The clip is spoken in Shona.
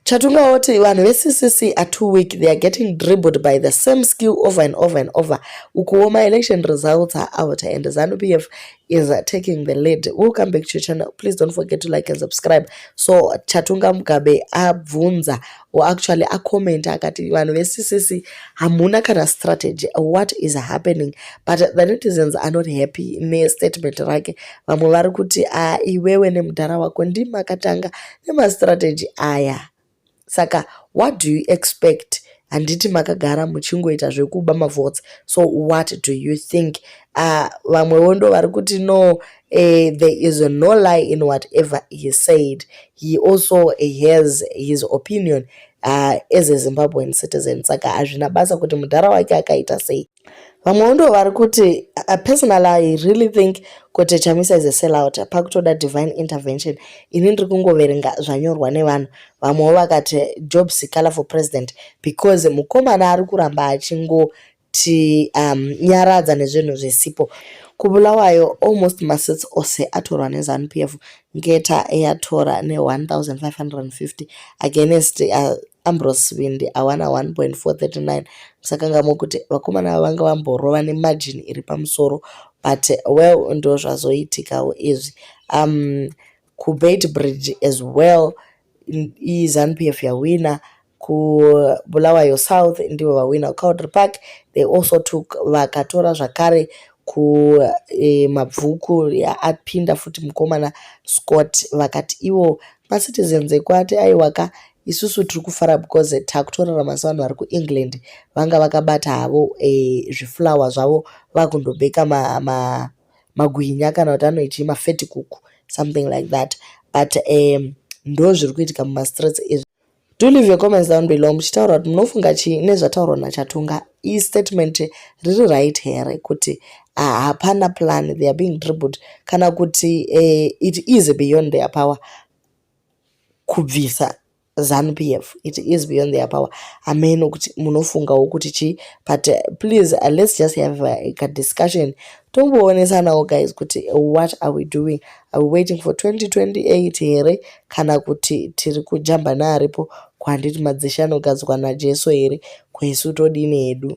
Chatunga oti vanhu veCCC are too weak they are getting dribbled by the same skill over and over and over ukuwo maelection results are out and zanupf is taking the lead we'll come back to your channel please don't forget to like and subscribe so chatunga mugabe abvunza or actually acomenta akati vanhu veCCC hamuna kana strategy what is happening but the netizens are not happy nestatement rake vamwe vari kuti a ah, iwewe nemudhara wako ndimakatanga nemastrategy aya saka what do you expect handiti makagara muchingoita zvekuba mavotes so what do you think ah, vamwewo uh, ndo vari kuti no uh, there is no lie in whatever he said he also has his opinion uh, as a zimbabwean citizen saka hazvina basa kuti mudhara wake akaita sei vamwewo ndo vari kuti uh, personal i really think kuti chamisa is a sellout pakutoda divine intervention ini ndiri kungoverenga zvanyorwa nevanhu vamwewo vakati job sikala for president because mukomana ari kuramba achingoti um, nyaradza nezvinhu zvisipo kubulawayo almost masits ose atorwa nezanu p f ngeta eyatora ne-1550 against uh, Ambrose Vindi awana 1.439 musakangamwe kuti vakomana ava vanga vamborova nemajini iri pamusoro but well ndo zvazoitikawo izvi um kubeit bridge as well izanupf yawina kubulawayo south ndivo vawina kucowdry park they also took vakatora zvakare ku eh, mabvuku ya- apinda futi mukomana scott vakati ivo macitizens ekwati aiwa ka isusu tiri kufara because eh, takutorarama sevanhu vari kuengland vanga vakabata havo eh, zviflower zvavo vakundobheka ma, ma, magwinya kana kuti anoitii mafetikuku something like that but um, ndo zviri kuitika mumastreets izvi Do leave your comments down below muchitaura kuti munofunga chii nezvataurwa naChatunga istatement riri right here kuti ah, hapana uh, plan they are being dribbled kana kuti uh, it is beyond their power kubvisa zanu p f it is beyond their power ameno kuti munofungawo kuti chii but uh, please uh, let's just have a, a discussion tomboonesanawo guys kuti what are we doing Are we waiting for 2028 here kana kuti tiri kujamba naaripo ko handiti madzishe anogadzwa najesu here ko isu todini hedu